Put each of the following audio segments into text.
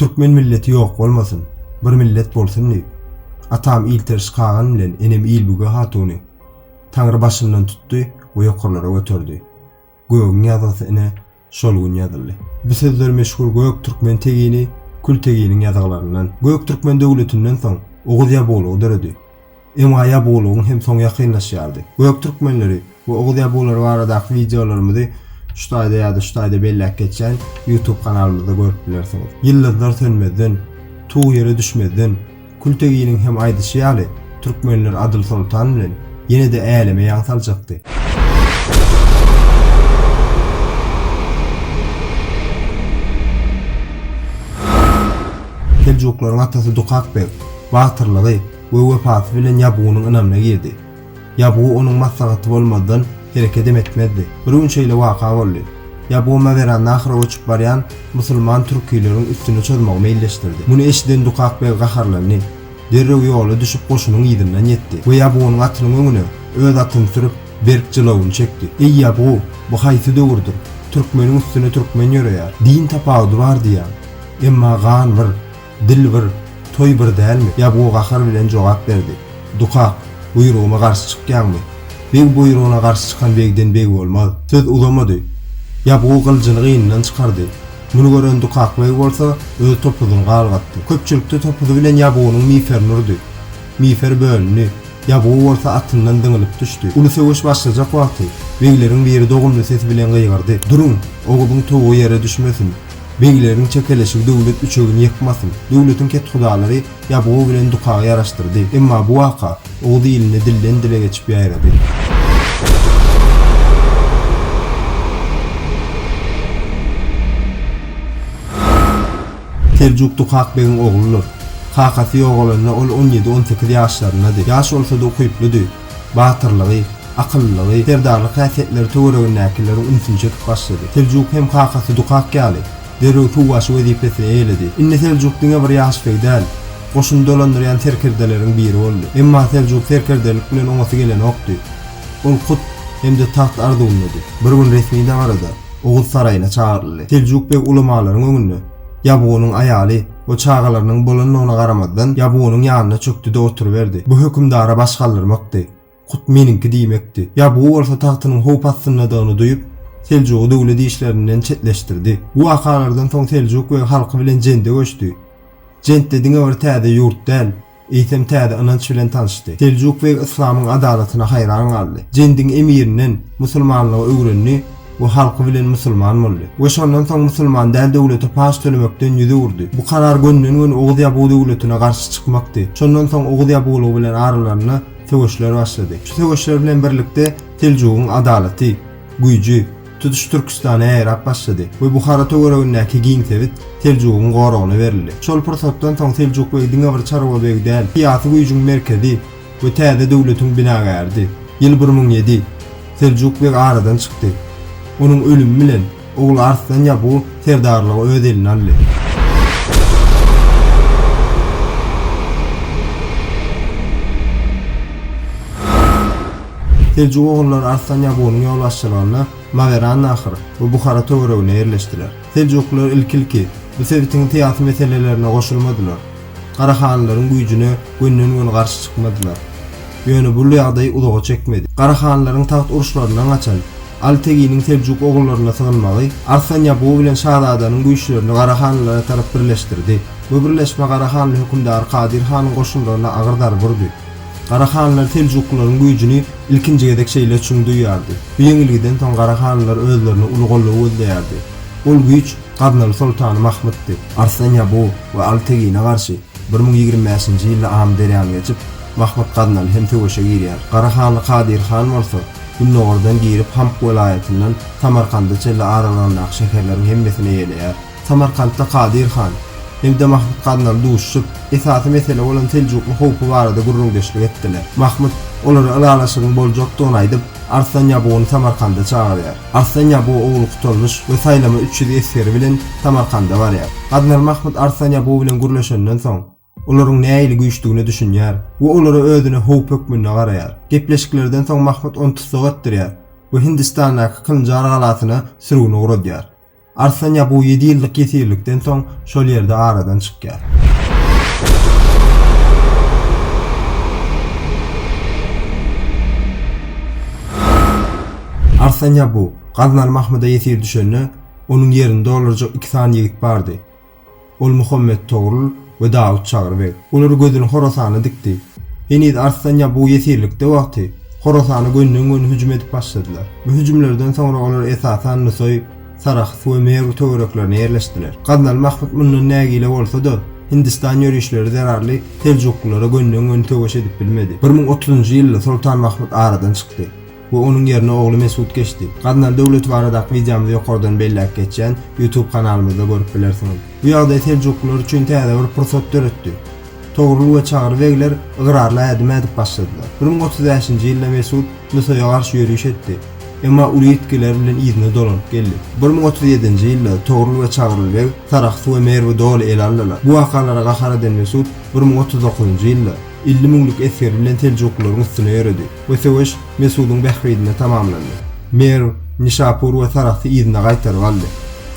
Türkmen milleti ýok bolmasyn, bir millet bolsun diýip, atam Ilteriş kagan bilen enem Ilbüge hatuny Taňry başyndan tutdy we ýokarlara göterdi. Gögüň ýazgysy ine, şol gün ýazyldy. Bu sözler meşhur Göktürkmen tegini Külteginiň ýazgylaryndan, Göktürkmen döwletinden soň Oguz Ýabulugy döredi. Emma Ýabulugyň hem soňy ýakynlaşýardy. Göktürkmenleri we Oguz Ýabulary baradaky wideolarymyzy şu taýda ýa-da şu taýda belläp geçýän YouTube kanalymyzda görüp bilersiňiz. Ýyldyzlar sönmezden, tug ýere düşmezden, Külteginiň hem aýdyşy ýaly, türkmenler Adyl soltan bilen ýene-de äleme ýaň saljakdy. Seljuklaryň atasy Dukak beg batyrlygy we wepasy bilen Ýabgunyň ynamyna girdi. Ýabgu onuň maslahaty bolmazdan herekedem etmezdi. Bir gün şeýle waka boldy. Ýabgu Mawerannahra göçüp barýan musulman türkileriň üstüne çozmagy meýilleşdirdi. Muny eşiden Dukak beg gaharlandy. Derrew ýola düşüp goşunyň yzyndan ýetdi we Ýabgunyň atynyň öňüne öz atyny sürüp, berk jylawyny çekdi. Eý Ýabgu, bu haýsy döwürdir, türkmeniň üstüne türkmen ýöreýär. Din tapawudy bar diýýäň, emma gan bir. Dil bir, toý bir dälmi? Ýabgu gahar bilen jogap berdi. Dukak, buýrugyma garşy çykýaňmy? Beg buýrugyna garşy çykan begden beg bolmaz. Söz uzamady. Ýabgu gyljyny gynyndan çykardy. Muny gören Dukak beg bolsa, öz topuzyny galgatdy. Köpçülikde topuzy bilen Ýabgunyň miferini urdy. Mifer bölündi. Ýabgu bolsa atyndan zyňylyp düşdi. Uly söweş başlajak wagty, begleriň biri dogumly sesi bilen gygyrdy, Duruň! Oguzyň towugy ýere düşmesin! Begleriň çekeleşigi döwlet üçegini ýykmasyn! Döwletiň kethudalary ýabgu bilen dukagy ýaraşdyrdy. Emma bu waka oguz ilinde dilden-dile geçip ýaýrady. Seljuk dukak begiň ogludyr. Kakasy ýogalanda ol on ýedi-on sekiz ýaşlaryndady. Ýaş bolsa-da ukyplydy. Batyrlygy, akyllylygy, serdarlyk häsiýetleri töweregindäkileriň ünsüni çekip başlady. Seljuk hem kakasy Dukak ýaly, derrew suwbaşy wezipesini eýeledi. Indi Seljuk diňe bir ýaş beý däl, goşuny dolandyrýan serkerdeleriň biri boldy. Emma Seljuk serkerdelik bilen oňasy gelenokdy. Ol hut hem-de tagt arzuwyndady. Bir gün resmi dabarada Oguz saraýyna çagyryldy. Seljuk beg ulamalaryň öňünde Ýabgunyň aýaly, O çagalarynyň bolandygyna garamazdan, Ýabugynyň ýanyna çökdi-de oturyberdi. Bu hökümdara baş galdyrmakdy. Hut meniňki diýmekdi. Ýabugy bolsa tagtynyň howp astyndadygyny duýup, Seljugy döwlet işlerinden çetleşdirdi. Bu wakalardan soň Seljuk beg halky bilen jende göçdi. Jent-de diňe bir täze ýurt däl. Eýsem täze ynanç bilen tanyşdy. Seljuk beg yslamyň adalatyna haýran galdy. Jendiň emirinden musulmanlygy öwrendi we halky bilen musulman boldy. We şondan soň musulman däl döwlete paç tölemekden ýüz öwürdi. Bu karar gönden-göni Oguz Ýabugy döwletine garşy çykmakdy. Şondan soň Oguz Ýabugylygy bilen aralarynda söweşler başlady. Şu söweşler bilen birlikde Seljugyň adalaty, güýji, Tutuş Türküstana ýaýrap başlady we Buhara töweregindäki giň sebit Seljugyň goragyna berildi. Şol pursatdan soň Seljuk begi diňe bir çarwa beg däl, syýasy güýjüň merkezi we täze döwletiň binagäridi. Ýyl bir müň ýedi. Seljuk beg aradan çykdy. Onuň ölümi bilen, ogly Arslan Ýabgu serdarlygy öz eline aldy. Seljuk ogullary Arslan Ýagunyň ýolbaşçylygynda Mawerannahr we Buhara töweregine ýerleşdiler. Seljuklylar ilki-ilki bu sebitiň syýasy meselelerine goşulmadylar. Garahanlylaryň güýjüne gönden-göni garşy çykmadylar. Ýöne bul ýagdaý uzaga çekmedi. Garahanlylaryň tagt uruşlaryndan gaçan Aly Teginiň Seljuk ogullaryna sygynmagy Arslan Ýagu bilen şazadanyň güýçlerini garahanlylara tarap birleşdirdi. Bu birleşme garahanly hökümdar Kadyr hanyň goşunlaryna agyr zarba urdy. Gara hanlar seljuklylaryň güýjüni ilkinji gezek şeýle çuň duýýardy. Bu ýeňilgiden soň gara hanlar özlerine uly goldaw gözleýärdi. Ol güýç Gaznaly soltany Mahmytdy. Arslan Ýabu we Aly Tegine garşy bir müň ýigrimi bäşinji ýylda Amyderýany geçip, Mahmyt Gaznaly hem söweşe girýär. Gara hanly Kadyr han bolsa, gündogardan girip, Hamk welaýatyndan Samarkanda çenli aralygyndaky şäherleriň hemmesini eýeleýär. Samarkantda Kadyr han, Ebde Mahmut Gaznaly duşuşyp, esasy mesele bolan seljukly howpy barada gürrüňdeşlik etdiler. Mahmut, olara ylalaşygyň boljakdygyny aýdyp, Arslan Ýabugyny Samarkanda çagyrýar. Arslan Ýabugy ogly Kutalmyş we saýlama üç ýüz esgeri bilen Samarkanda barýar. Gaznaly Mahmut Arslan Ýabugy bilen gürleşenden soň. olaryň nähili güýçdügine düşünýär we olara özüne howp hökmünde garaýar. Gepleşiklerden soň Mahmut ony tussag etdirýär we Hindistandaky Kynjar galasyna sürgün ugradýar. Arslan Ýabu ýedi ýyllyk ýesirlikden soň şol ýerde aradan çykýar. Arslan Ýabu gaznaly Mahmuda ýesir düşende, onuň ýerini doldurjak iki sany ýigit bardy. Ol Muhammet Togrul we Dawut Çagry beg. Olar gözüni Horasana dikdi. Heniz Arslan Ýabuw ýesirlikde wagty, Horasana gönden-göni hüjüm edip başladylar. Bu hüjümlerden soňra olar esasan Nusaý, Sarahs we Merw töwereklerine ýerleşdiler. Gaznaly Mahmyt mundan nägile bolsa-da, Hindistan ýörişleri zerarly seljuklylara gönden-göni söweş edip bilmedi. Bir müň otuzynjy ýylda Soltan Mahmyt aradan çykdy. we onuň ýerine ogly Mesut geçdi. Gaznaly döwleti baradaky wideomyzy ýokardan belläp geçýän YouTube kanalymyzda görüp bilersiňiz. Bu ýagdaý seljuklylar üçin täze bir pursat döretdi. Togrul we Çagry begler ygrarly ädim ädip başladylar. Bir müň otuz bäşinji ýylda Mesut Nusaýa garşy ýöriş etdi, emma uly ýitgiler bilen yzyna dolanyp geldi. Bir müň otuz ýedinji ýylda Togrul we Çagry beg Sarahsy we Merwi doly ele aldylar. Bu wakalara gahar eden Mesut bir müň otuz dokuzynjy ýylda, Elli müňlük esgeri bilen seljuklylaryň üstüne ýöredi we söweş Mesudyň bähbidine tamamlandy. Merw, Nişapur we Sarahsy yzyna gaýtaryp aldy.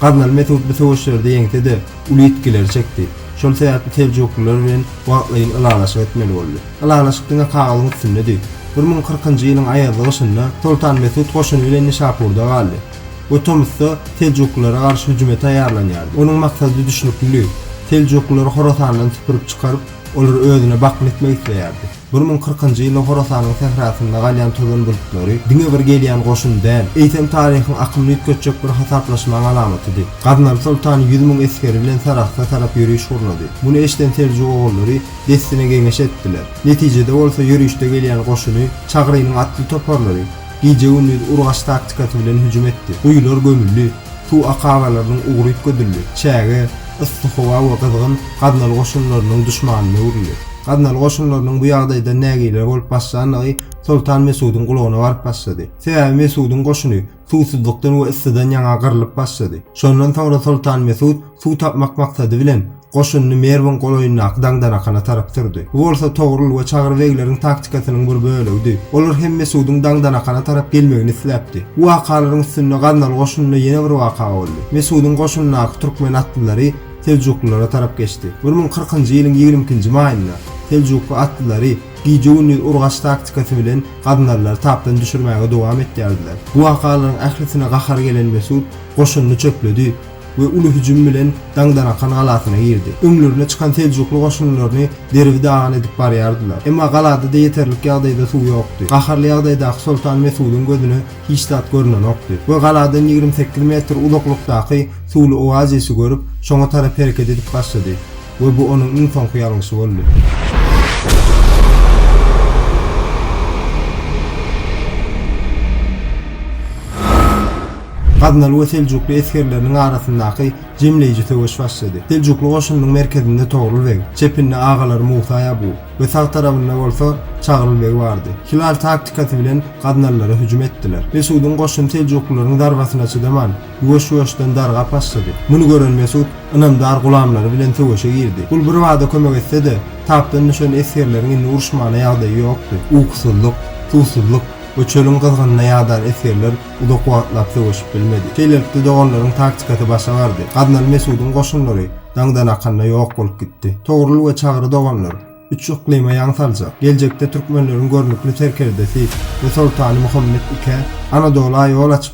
Gaznaly Mesut bu söweşlerde ýeňse-de, uly ýitgileri çekdi. Şol sebäpli seljuklylar bilen wagtlaýyn ylalaşyk etmeli boldy. Ylalaşyk diňe kagyzyň üstündedi. Bir müň kyrkynjy ýylyň aýazly gyşynda Soltan Mesut goşuny bilen Nişapurda galdy we tomusda seljuklylara garşy hüjüme taýýarlanýardy. Onuň maksadydüşnüklidi. Seljuklylary Horasandan süpürip çykaryp, Olar özüne bakym etmek isleýärdi. Bir müň kyrkynjy ýylda Horasanyň sährasynda galýan tozan bulutlary diňe bir gelýän goşun däl, eýsem taryhyň akymyny üýtgetjek bir hasaplaşmaň alamatydy. Gaznaly soltan ýüz müň esgeri bilen Sarahsa tarap ýöriş gurnady. Muny eşden Seljuk ogullary dessine geňeş etdiler. Netijede bolsa ýörişde gelýän goşuny Çagrynyň atly toparlary gije-gündiz urgaç taktikasy bilen hüjüm etdi. Guýular gömüldi. Suw akabalarynyň ugry üpgedildi. Çäge, yssy howa we gyzgyn Gaznaly goşunlarynyň duşmanyna öwrüldi. Gaznaly goşunlarynyň bu ýagdaýdan nägileler bolup başlandygy Soltan Mesudyň gulagyna baryp başlady. Sebäbi Mesudyň goşuny suwsuzlykdan we yssydan ýaňa gyrlyp başlady. Şondan soňra Soltan Mesut suw tapmak maksady bilen, Goşunyny Merwiň golaýyndaky Daňdanakana tarap sürdi. Bu bolsa Togrul we Çagry begleriň taktikasynyň bir bölegidi. Olar hem Mesudyň Daňdanakana tarap gelmegini isläpdi. Bu wakalaryň üstünde gaznaly goşunynda ýene bir waka boldy. Mesudyň goşunyndaky türkmen atlylary seljuklylara tarap geçdi. Bir müň kyrkynjy ýylyň ýigrimi ikinji maýynda seljukly atlylary gije-gündiz urgaç taktikasy bilen gaznalylary tapdan düşürmäge dowam etýärdiler. Bu wakalaryň ählisine gahary gelen Mesut goşunyny çöpledi. we uly hüjüm bilen Daňdarakan galasyna girdi. Öňlerine çykan seljukly goşunlaryny derbi dagyn edip barýardylar. Emma galada-da ýeterlik ýagdaýda suw ýokdy. Gaharly ýagdaýdaky soltan Mesudyň gözüne hiç zat görnenokdy we galadan ýigrimi sekiz metr uzaklykdaky suwly oazisi görüp, şoňa tarap hereket edip başlady. We bu onuň iň soňky ýalňyşy boldy. Gaznaly we Seljukly esgerleriniň arasyndaky jemleýji söweş başlady. Seljukly goşunynyň merkezinde Togrul beg, çepinde agalary Musa Ýabu we sag tarabynda bolsa Çagryl beg bardy. Hilal taktikasy bilen Gaznalylary hüjüm etdiler. Mesudyň goşuny Seljuklylaryň zarbasyna çydaman, Ýuwaş-ýuwaşdan darga başlady. Muny gören Mesut ynamdar gulamlary bilen söweşe girdi. Gul birbada kömek etse-de, tapdan düşen esgerleriň indi uruşmana ýagdaýy ýokdy. Ukusyzlyk, suwsuzlyk we çölüň gyzgynyna ýadan esgerler uzak wagtlap söweşip bilmedi. Şeýlelikde, doganlaryň taktikasy başa bardy. Gaznaly Mesudyň goşunlary daňdanakanda ýok bolup gitdi. Togrul we Çagry doganlar üç yklyma ýaň saljak, geljekde türkmenleriň görnükli serkerdesi we soltany Muhammet I-ä Anadola ýol açyp,